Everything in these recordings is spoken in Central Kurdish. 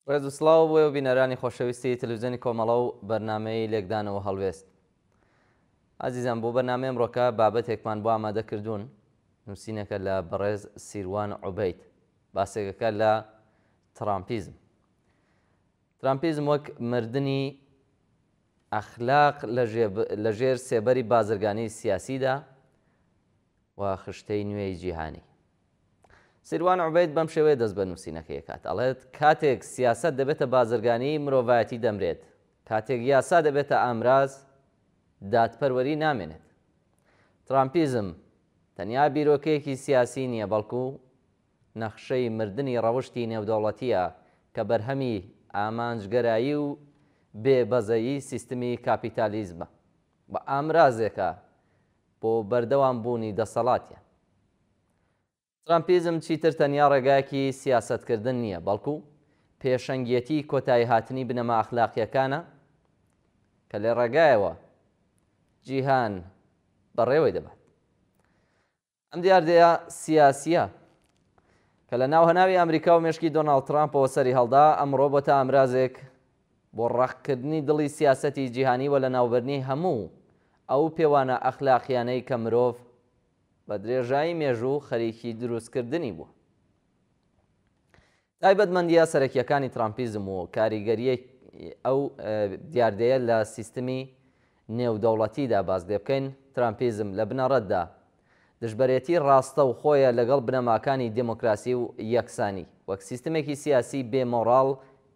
ڕێز و سڵاو بۆ و بینەرانی خۆشەویستی تەلویزیۆنی کۆمەڵە و بەرنمەی لێکدانەوە هەڵوێست ئازیزان بۆ بەنامێم ڕۆکە بابەتێکمان بۆ ئامادە کردوون نووسینەکە لە بەڕێز سیروان عوبیت باسێکەکە لە ترامپیزم ترامپیزم وەک مردنی ئەخلاق لە ژێر سێبەری بازرگانی سیاسیدا و خشتەی نوێی جیهانی. سیروان عوبەید بەم شێوەیە دەست بە نووسینەکەی ئەکات، ئەڵێت، کاتێک سیاسەت دەبێتە بازرگانی، مرۆڤایەتی دەمرێت، کاتێک یاسا دەبێتە ئامراز، دادپەروەری نامێنێت. ترامپیزم تەنیا بیرۆکەیەکی سیاسی نییە، بەڵکو نەخشەی مردنی ڕەوشتی نێودەوڵەتییە کە بەرهەمی ئامانجگەرایی و بێ بەزەیی سیستمی کاپیتالیزمە و ئامرازێکە بۆ بەردەوام بوونی دەسەڵاتیان. ترامپیزم چیتر تەنیا ڕێگایەکی سیاسەتکردن نییە، بەڵکو پێشەنگیەتی کۆتاییهاتنی بنەما ئەخلاقییەکانە کە لە ڕێگایەوە جیهان بەڕێوەی دەبات. ئەم دیاردەیە سیاسییە کە لە ناو هەناوی ئامریکا و مێشکی دۆناڵد ترامپەوە سەری هەڵدا، ئەمڕۆ بۆتە ئامرازێک بۆ ڕەقکردنی دڵی سیاسەتی جیهانی و لەناوبرنی هەموو ئەو پێوانە ئەخلاقییانەی کە مرۆڤ بە درێژایی مێژوو خەریکی دروستکردنی بووە. تایبەتمەندییە سەرەکییەکانی ترامپیزم و کاریگەریی ئەو دیاردەیە لە سیستمی نێودەوڵەتیدا باس لێ بکەین، ترامپیزم لە بنەڕەتدا دژبەرێتی ڕاستەوخۆیە لەگەڵ بنەماکانی دێمۆکراسی و یەکسانی، وەک سیستمێکی سیاسی بێ مۆڕاڵ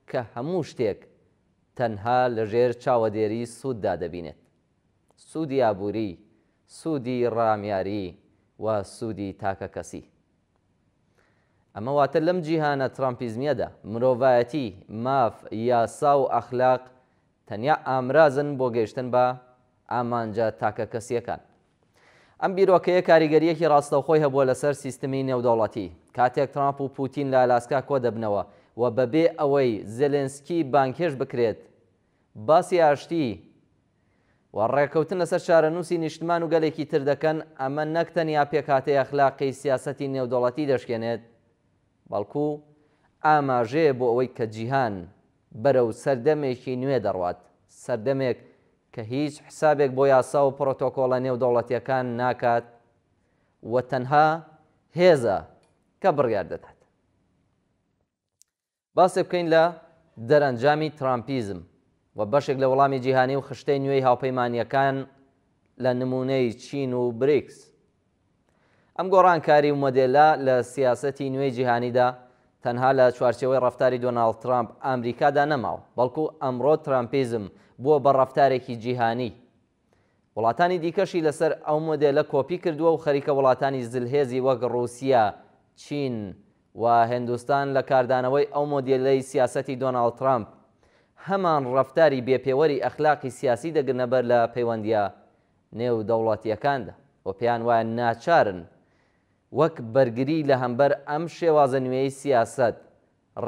کە هەموو شتێک تەنها لەژێر چاوەدێری سووددا دەبینێت، سوودی ئابووری، سوودی ڕامیاری و سوودی تاکەکەسی. ئەمە واتە لەم جیهانە ترامپیزمیەدا، مرۆڤایەتی، ماف، یاسا و ئەخلاق تەنیا ئامرازن بۆ گەیشتن بە ئامانجە تاکەکەسییەکان. ئەم بیرۆکەیە کاریگەرییەکی ڕاستەوخۆی هەبووە لەسەر سیستمی نێودەوڵەتی. کاتێک ترامپ و پوتین لە ئالاسکا کۆدەبنەوە و بەبێ ئەوەی زێلێنسکی بانگهێشت بکرێت باسی ئاشتی و ڕێککەوتن لەسەر چارەنووسی نیشتمان و گەلێکی تر دەکەن، ئەمە نەک تەنیا پێکهاتەی ئەخلاقیی سیاسەتی نێودەوڵەتی دەشکێنێت، بەڵکو ئاماژەیە بۆ ئەوەی کە جیهان بەرەو سەردەمێکی نوێ دەڕوات، سەردەمێک کە هیچ حسابێک بۆ یاسا و پرۆتۆکۆڵە نێودەوڵەتییەکان ناکات و تەنها هێزە کە بڕیار دەدات. باسێ بکەین لە دەرەنجامی ترامپیزم و بەشێک لە وڵامی جیهانی و خشتەی نوێی هاوپەیمانییەکان لە نموونەی چین و بریکس. ئەم گۆڕانکاری و مۆدێلە لە سیاسەتی نوێی جیهانیدا تەنها لە چوارچێوەی ڕەفتاری دۆناڵد ترامپ ئامریکادا نەماوە، بەڵکو ئەمڕۆ ترامپیزم بووە بە ڕەفتارێکی جیهانی. وڵاتانی دیکەشی لەسەر ئەو مۆدێلە کۆپی کردووە و خەریکە وڵاتانی زلهێزی وەک ڕووسیە، چین و هندوستان لە کاردانەوەی ئەو مۆدێلەی سیاسەتی دۆناڵد ترەمپ هەمان ڕەفتاری بێ پێوەری ئەخلاقی سیاسی دەگرنە بەر لە پەیوەندییە نێودەوڵەتییەکاندا و پێیان وایە ناچارن وەک بەرگری لە هەمبەر ئەم شێوازە نوێی سیاسەت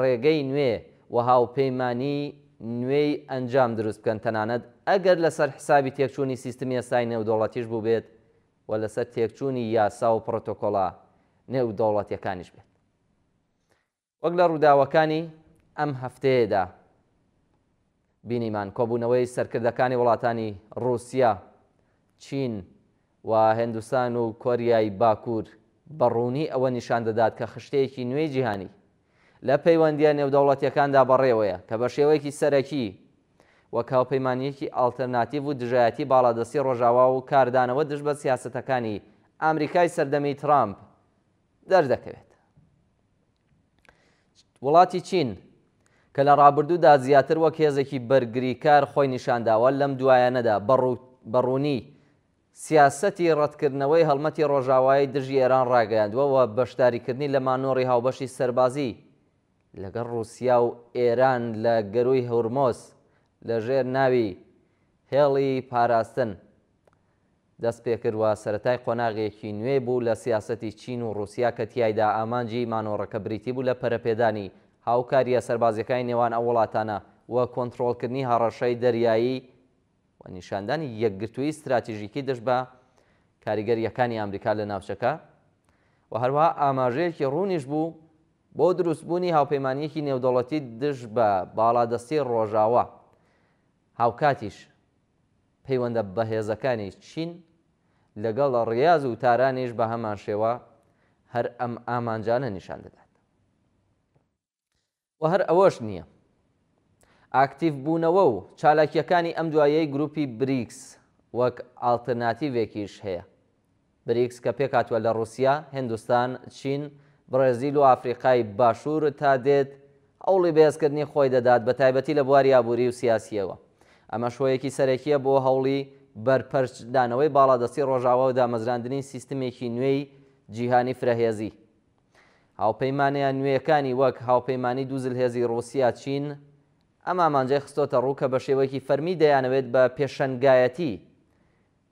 ڕێگەی نوێ و هاوپەیمانیی نوێی ئەنجام دروست بکەن، تەنانەت ئەگەر لەسەر حسابی تێکچوونی سیستمی ئێستای نێودەوڵەتیش بووبێت و لەسەر تێکچوونی یاسا و پڕۆتۆکۆڵە نێودەوڵەتییەکانیش بێت. وەک لە ڕووداوەکانی ئەم هەفتەیەدا، بینیمان کۆبوونەوەی سەرکردەکانی وڵاتانی ڕووسیا، چین و هندستان و کۆریای باکوور بە ڕوونی ئەوە نیشان دەدات کە خشتەیەکی نوێی جیهانی لە پەیوەندییە نێودەوڵەتییەکاندا بەڕێوەیە کە بە شێوەیەکی سەرەکی وەک هاوپەیمانییەکی ئاڵترناتیڤ و دژایەتی باڵادەستی ڕۆژاوا و کاردانەوە دژ بە سیاسەتەکانی ئامریکای سەردەمی ترامپ دەردەکەوێت. وڵاتی چین کە لە ڕابردوودا زیاتر وەک هێزێکی بەرگریکار خۆی نیشانداوە، لەم دوایانەدا بە ڕوونی سیاسەتی ڕەتکردنەوەی هەڵمەتی ڕۆژاوای دژی ئێران ڕاگەیاندووە و بەشداریکردنی لە مانۆڕی هاوبەشی سەربازی لەگەڵ ڕووسیا و ئێران لە گەرووی هورمز لەژێر ناوی هێڵی پاراستن دەستپێکرد و سەرەتای قۆناغێکی نوێ بوو لە سیاسەتی چین و ڕووسیا کە تیایدا ئامانجی مانۆڕەکە بریتی بوو لە پەرەپێدانی هاوکارییە سەربازییەکانی نێوان ئەو وڵاتانە و کۆنتڕۆڵکردنی هەڕەشەی دەریایی و نیشاندانی یەکگرتوویی ستراتیژیکی دژ بە کاریگەرییەکانی ئامریکا لە ناوچەکە و هەروەها ئاماژەیەکی ڕوونیش بوو بۆ دروستبوونی هاوپەیمانییەکی نێودەوڵەتی دژ بە باڵادەستی ڕۆژاوا هاوکاتیش پەیوەندە بەهێزەکانی چین لەگەڵ ڕیاز و تارانیش بە هەمانشێوە هەر ئەم ئامانجانە نیشان دەدات و هەر ئەوەش نییە. ئاکتیڤبوونەوە و چالاکییەکانی ئەم دواییەی گرووپی بریکس وەک ئاڵترناتیڤێکیش هەیە. بریکس کە پێکهاتووە لە ڕووسیا، هیندستان، چین، بڕێزیل و ئافریقای باشوور تا دێت هەوڵی بەهێزکردنی خۆی دەدات بە تایبەتی لە بواری ئابووری و سیاسییەوە. ئەمەش هۆیەکی سەرەکییە بۆ هەوڵی بەرپەرچدانەوەی باڵادەستی ڕۆژاوا و دامەزراندنی سیستمێکی نوێی جیهانی فرەهێزی. هاوپەیمانە نوێیەکانی وەک هاوپەیمانی دوو زلهێزی ڕووسیا، چین، ئەم ئامانجەی خستۆتە ڕوو کە بە شێوەیەکی فەرمی دەیانەوێت بە پێشەنگایەتی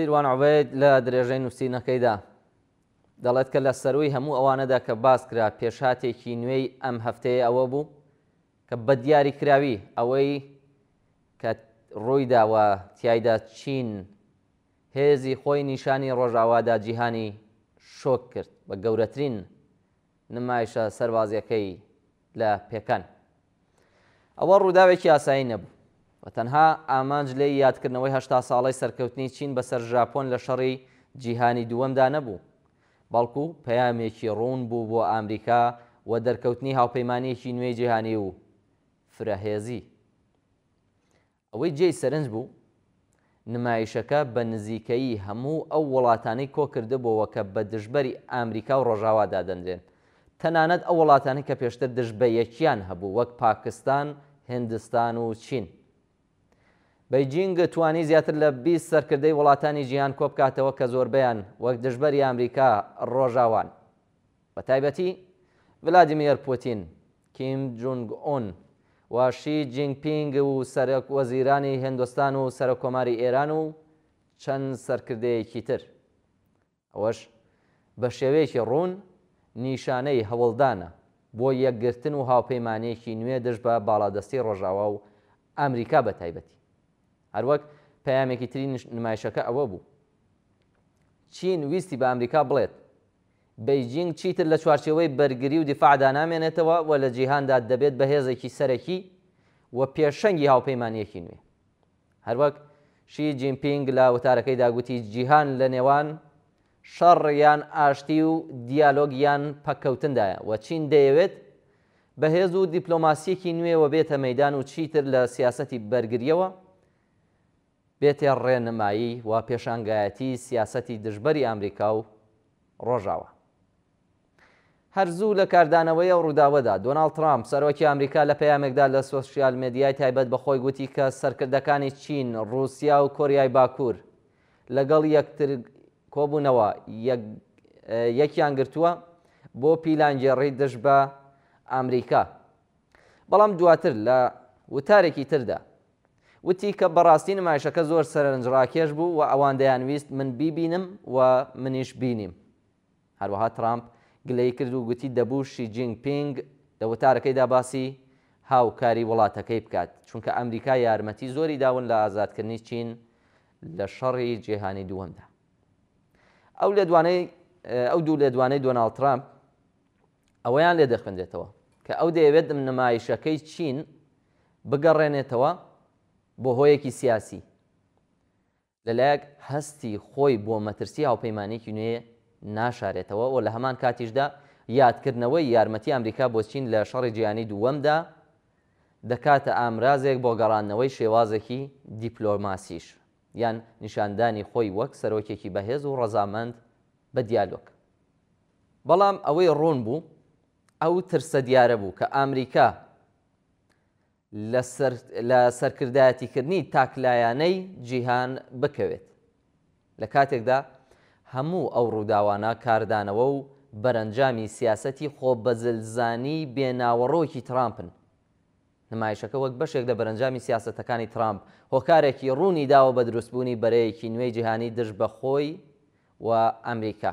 سیروان عوبید لە درێژەی نووسینەکەیدا دەڵێت کە لە سەروی هەموو ئەوانەدا کە باس کرا پێشاتێکی نوێی ئەم هەفتەیە ئەوە بوو کە بە دیاری کراوی ئەوەی کە ڕووی داوە تایدا چین هێزی خۆی نیشانی ڕۆژاوادا جیهانی شۆک کرد بە گەورەترین نمایشە سەربازیەکەی لە پێکان. ئەوە ڕووداوێکی ئاسایی نەبوو و تەنها ئامانج لێی یادکردنەوەی هەشتا ساڵەی سەرکەوتنی چین بەسەر ژاپۆن لە شەڕی جیهانی دووەمدا نەبوو، بەڵکو پەیامێکی ڕوون بوو بۆ ئامریکا و دەرکەوتنی هاوپەیمانیەکی نوێی جیهانی و فرەهێزی. ئەوەی جێی سەرنج بوو، نمایشەکە بە نزیکەیی هەموو ئەو وڵاتانەی کۆکردبۆوە کە بە دژبەری ئامریکا و ڕۆژاوا دادەنرێن، تەنانەت ئەو وڵاتانەی کە پێشتر دژ بە یەکیان هەبوو وەک پاکستان، هندستان و چین. بەیجینگ توانی زیاتر لە بیست سەرکردەی وڵاتانی جیهان کۆبکاتەوە کە زۆربەیان وەک دژبەری ئامریکا ڕۆژاوان. بەتایبەتی ڤلادیمێر پوتین کیم جونگ ئون و شی جینگ پینگ و سەرۆک وەزیرانی هێندۆستان و سەرۆک کۆماری ئێران و چەند سەرکردەیەکی تر. ئەوەش بە شێوەیەکی ڕوون نیشانەی هەوڵدانە بۆ یەکگرتن و هاوپەیمانییەکی نوێ دژ بە باڵادەستی ڕۆژاوا و ئامریکا بە تایبەتی. هەروەک پەیامێکی تری نمایشەکە ئەوە بوو چین ویستی بە ئامریکا بڵێت بەیجینگ چیتر لە چوارچێوەی بەرگری و دیفاعدا نامێنێتەوە و لە جیهاندا دەبێت بە هێزێکی سەرەکی و پێشەنگی هاوپەیمانییەکی نوێ. هەروەک شی جینپینگ لە وتارەکەیدا گوتی جیهان لە نێوان شەڕ یان ئاشتی و دیالۆگ یان پەککەوتندایە و چین دەیەوێت بە هێز و دیپلۆماسییەکی نوێوە بێتە مەیدان و چیتر لە سیاسەتی بەرگرییەوە بێتێ ڕێنمایی و پێشانگایەتی سیاسەتی دژبەری ئامریکا و ڕۆژاوا. هەر زوو لە کاردانەوەی ئەو ڕووداوەدا، دۆناڵد ترامپ، سەرۆکی ئامریکا لە پەیامێکدا لە سۆشیال مێدیای تایبەت بە خۆی گوتی کە سەرکردەکانی چین، ڕووسیا و کۆریای باکوور لەگەڵ یەکتر کۆبوونەوە یەکیان گرتووە بۆ پیلانگێڕی دژ بە ئامریکا. بەڵام دواتر لە وتارێکی تردا وتی کە بەڕاستی نمایشەکە زۆر سەرنجڕاکێش بوو و ئەوان دەیانویست من بیبینم و منیش بینیم. هەروەها ترامپ گلەیی کرد و گوتی دەبوو شی جینگ پینگ لە وتارەکەیدا باسی هاوکاری وڵاتەکەی بکات، چونکە ئەمریکا یارمەتی زۆری داون لە ئازادکردنی چین لە شەڕی جیهانی دووەمدا. ئەو لێدوانەی ئەو دوو لێدوانەی دۆناڵد ترامپ ئەوەیان لێ دەخوێنرێتەوە کە ئەو دەیەوێت نمایشەکەی چین بگەڕێنێتەوە بۆ هۆیەکی سیاسی لەلایەک هەستی خۆی بۆ مەترسی هاوپەیمانێکی نوێ ناشارێتەوە و لە هەمان کاتیشدا یادکردنەوەی یارمەتی ئەمریکا بۆ چین لە شەڕی جیهانی دووەمدا دەکاتە ئامرازێک بۆ گەڕاندنەوەی شێوازێکی دیپلۆماسیش یان نیشاندانی خۆی وەک سەرۆکێکی بەهێز و ڕەزامەند بە دیالۆگ بەڵام ئەوەی ڕوون بوو ئەو ترسە دیارە بوو کە ئامریکا لە سەرکردایەتیکردنی تاکلایەنەی جیهان بکەوێت. لە کاتێکدا هەموو ئەو ڕووداوانە کاردانەوە و بەرەنجامی سیاسەتی خۆبەزلزانی بێ ناوەڕۆکی ترامپن. نمایشەکە وەک بەشێک لە بەرەنجامی سیاسەتەکانی ترامپ، هۆکارێکی ڕوونی داوە بە دروستبوونی بەرەیەکی نوێی جیهانی دژ بە خۆی و ئەمریکا.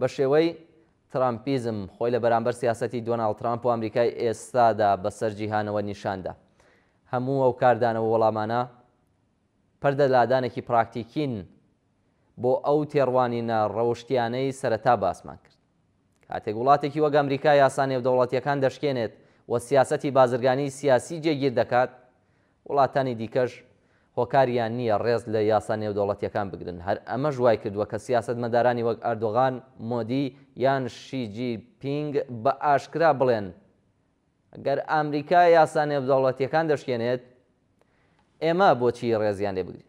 بە شێوەی ترامپیزم خۆی لە بەرامبەر سیاسەتی دۆناڵد ترامپ و ئەمریکای ئێستادا بەسەر جیهانەوە نیشان دا. هەموو ئەو کاردانەوە و وەڵامانە پەردە لادانێکی پراکتیکین بۆ ئەو تێڕوانینە ڕەوشتیانەی سەرەتا باسمان کرد. کاتێک وڵاتێکی وەک ئەمریکا یاسا نێودەوڵەتیەکان دەشکێنێت و سیاسەتی بازرگانی سیاسی جێگیر دەکات، وڵاتانی دیکەش هۆکاریان نییە ڕێز لە یاسا نێودەوڵەتییەکان بگرن، هەر ئەمەش وای کردووە کە سیاسەتمەدارانی وەک ئەردۆغان، مۆدی یان شی جی پینگ بە ئاشکرا بڵێن، گەر ئامریکا یاسا نێودەوڵەتییەکان دەشکێنێت، ئێمە بۆچی ڕێزیان لێ بگرین؟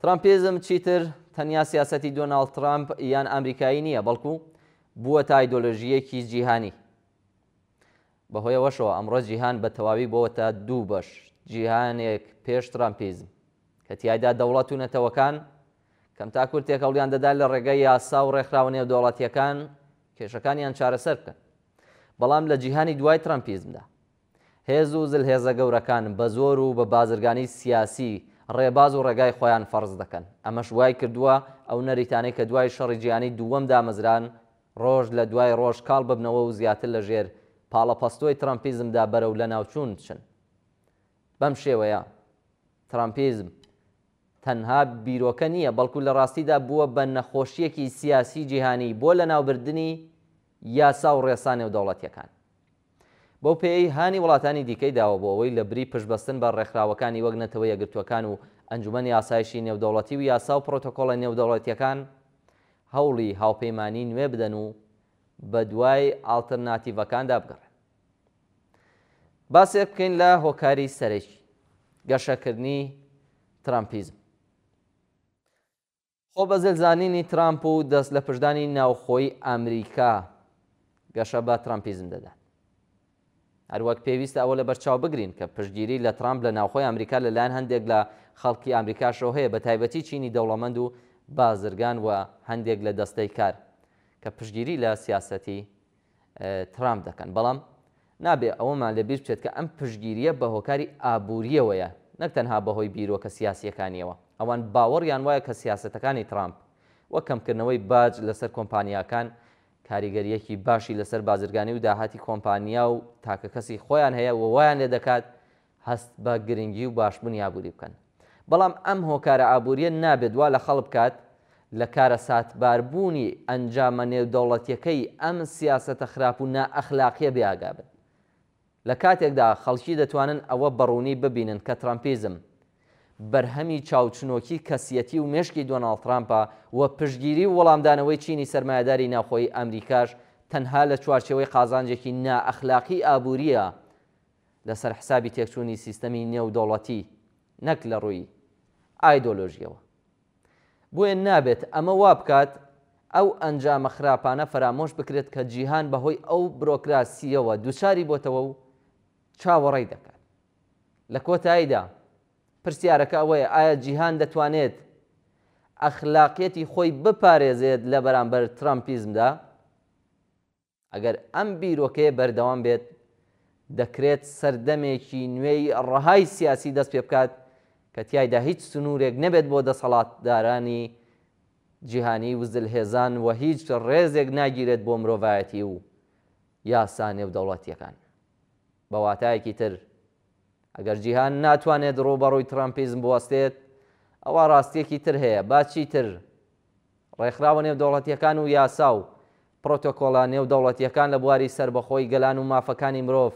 ترامپیزم چیتر تەنیا سیاسەتی دۆناڵد ترامپ یان ئامریکایی نییە، بەڵکو بووەتە ئایدۆلۆژییەکی جیهانی. بەهۆیەوەشەوە ئەمڕۆ جیهان بە تەواوی بۆوەتە دوو بەش، جیهانێک پێش ترامپیزم، کە تیایدا دەوڵەت و نەتەوەکان کەمتاکوور تێکەڵیان دەدا لە ڕێگەی یاسا و ڕێکخراوە نێودەوڵەتییەکان کێشەکانیان چارەسەر بکەن. بەڵام لە جیهانی دوای ترامپیزمدا، هێز و زلهێزە گەورەکان بە زۆر و بە بازرگانی سیاسی ڕێباز و ڕێگای خۆیان فەرز دەکەن. ئەمەش وای کردووە ئەو نەریتانەی کە دوای شەڕی جیهانی دووەم دامەزران، ڕۆژ لە دوای ڕۆژ کاڵ ببنەوە و زیاتر لە ژێر پاڵەپەستۆی ترەمپیزمدا بەرەو لەناوچوون بچن. بەم شێوەیە ترەمپیزم تەنها بیرۆکە نییە، بەڵکو لە ڕاستیدا بووە بە نەخۆشییەکی سیاسی جیهانی بۆ لەناوبردنی یاسا و ڕێسا نێودەوڵەتییەکان. بەو پێیەی هانی وڵاتانی دیکەی داوە بۆ ئەوەی لە بری پشتبەستن بە ڕێکخراوەکانی وەک نەتەوە یەکگرتووەکان و ئەنجومەنی ئاسایشی نێودەوڵەتی و یاسا و پڕۆتۆکۆڵە نێودەوڵەتییەکان هەوڵی هاوپەیمانیی نوێ بدەن و بە دوای ئاڵترناتیڤەکاندا بگەڕێن. باسێک بکەین لە هۆکاری سەرەکی گەشەکردنی ترەمپیزم. خۆ بە زل زانینی ترامپ و دەست لەپشتدانی ناوخۆیی ئامریکا گەشە بە ترامپیزم دەدات. هەروەک پێویستە ئەوە لەبەرچاو بگرین کە پشتگیری لە ترامپ لە ناوخۆی ئامریکا لە لایەن هەندێک لە خەڵکی ئامریکاشەوە هەیە بە تایبەتی چینی دەوڵەمەند و بازرگان و هەندێک لە دەستەی کار کە پشتگیری لە سیاسەتی ترامپ دەکەن، بەڵام نابێ ئەوەمان لەبیر بچێت کە ئەم پشتگیرییە بە هۆکاری ئابوورییەوەیە نەک تەنها بەهۆی بیرۆکە سیاسییەکانییەوە، ئەوان باوەڕیان وایە کە سیاسەتەکانی ترامپ، وەک کەمکردنەوەی باج لەسەر کۆمپانیاکان، کاریگەرییەکی باشی لەسەر بازرگانی و داهاتی کۆمپانیا و تاکەکەسی خۆیان هەیە و وایان لێدەکات هەست بە گرنگی و باشبونی ئابوری بکەن. بەڵام ئەم هۆکارە ئابوریە نابێت وا لە خەڵک بکات لە کارەساتباربونی ئەنجامە نێودەوڵەتیەکەی ئەم سیاسەتە خراپ و نائەخلاقیە بێ ئاگا بن. لە کاتێکدا خەڵکی دەتوانن ئەوە بەڕونی ببینن کە ترەمپیزم بەرهەمی چاوچنۆکی کەسیەتی و مێشکی دۆناڵد ترامپە و پشتگیری و وەڵامدانەوەی چینی سەرمایەداری ناوخۆیی ئەمریکاش تەنها لە چوارچێوەی قازانجێکی نائەخلاقی ئابوریە لەسەر حسابی تێکچوونی سیستەمی نێودەوڵەتی نەک لە ڕووی ئایدۆلۆژییەوە. بۆیە نابێت ئەمە وا بکات ئەو ئەنجامە خراپانە فەرامۆش بکرێت کە جیهان بەهۆی ئەو برۆکراسییەوە دووچاری بۆتەوە و چاوەڕێی دەکات. لە کۆتاییدا پرسیارەکە ئەوەیە ئایا جیهان دەتوانێت ئەخلاقیەتی خۆی بپارێزێت لە بەرامبەر ترامپیزمدا؟ ئەگەر ئەم بیرۆکەیە بەردەوام بێت، دەکرێت سەردەمێکی نوێی ڕەهای سیاسی دەست پێ بکات کە تیایدا هیچ سنوورێک نەبێت بۆ دەسەڵاتدارانی جیهانی و زلهێزان و هیچ ڕێزێک ناگیرێت بۆ مرۆڤایەتی و یاسا نێودەوڵەتییەکان. بە واتایەکی تر، ئەگەر جیهان ناتوانێت ڕووبەڕووی ترامپیزم بوەستێت، ئەوا ڕاستییەکی تر هەیە، با چیتر، ڕێکخراوە نێودەوڵەتییەکان و یاسا و پرۆتۆکۆڵە نێودەوڵەتییەکان لە بواری سەربەخۆی گەلان و مافەکانی مرۆڤ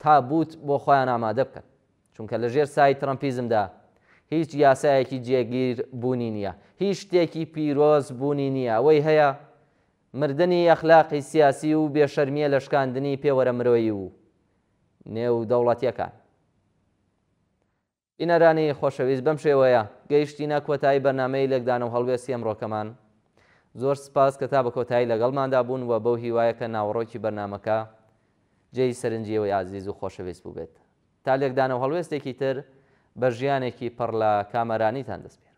تابووت بۆ خۆیان ئامادە بکەن، چونکە لە ژێر سایەی ترەمپیزمدا هیچ یاسایەکی جێگیر بوونی نییە، هیچ شتێکی پیرۆز بوونی نییە، ئەوەی هەیە مردنی ئەخلاقی سیاسی و بێشەرمییە لە شکاندنی پێوەرە مرۆیی و نێودەوڵەتییەکان. بینەرانی خۆشەویست بەم شێوەیە گەیشتینە کۆتایی بەرنامەی لێکدانەو هەڵوێستی ئەمڕۆکەمان زۆر سپاس کە تا بە کۆتایی لەگەڵماندا بوون و بەو هیوایە کە ناوەڕۆکی بەرنامەکە جێی سەرنجی ئێوەی ئازیز و خۆشەویست بووبێت تا لێکدانەو هەڵوێستێکی تر بە ژیانێکی پڕ لە کامەرانیتان دەسپێرم.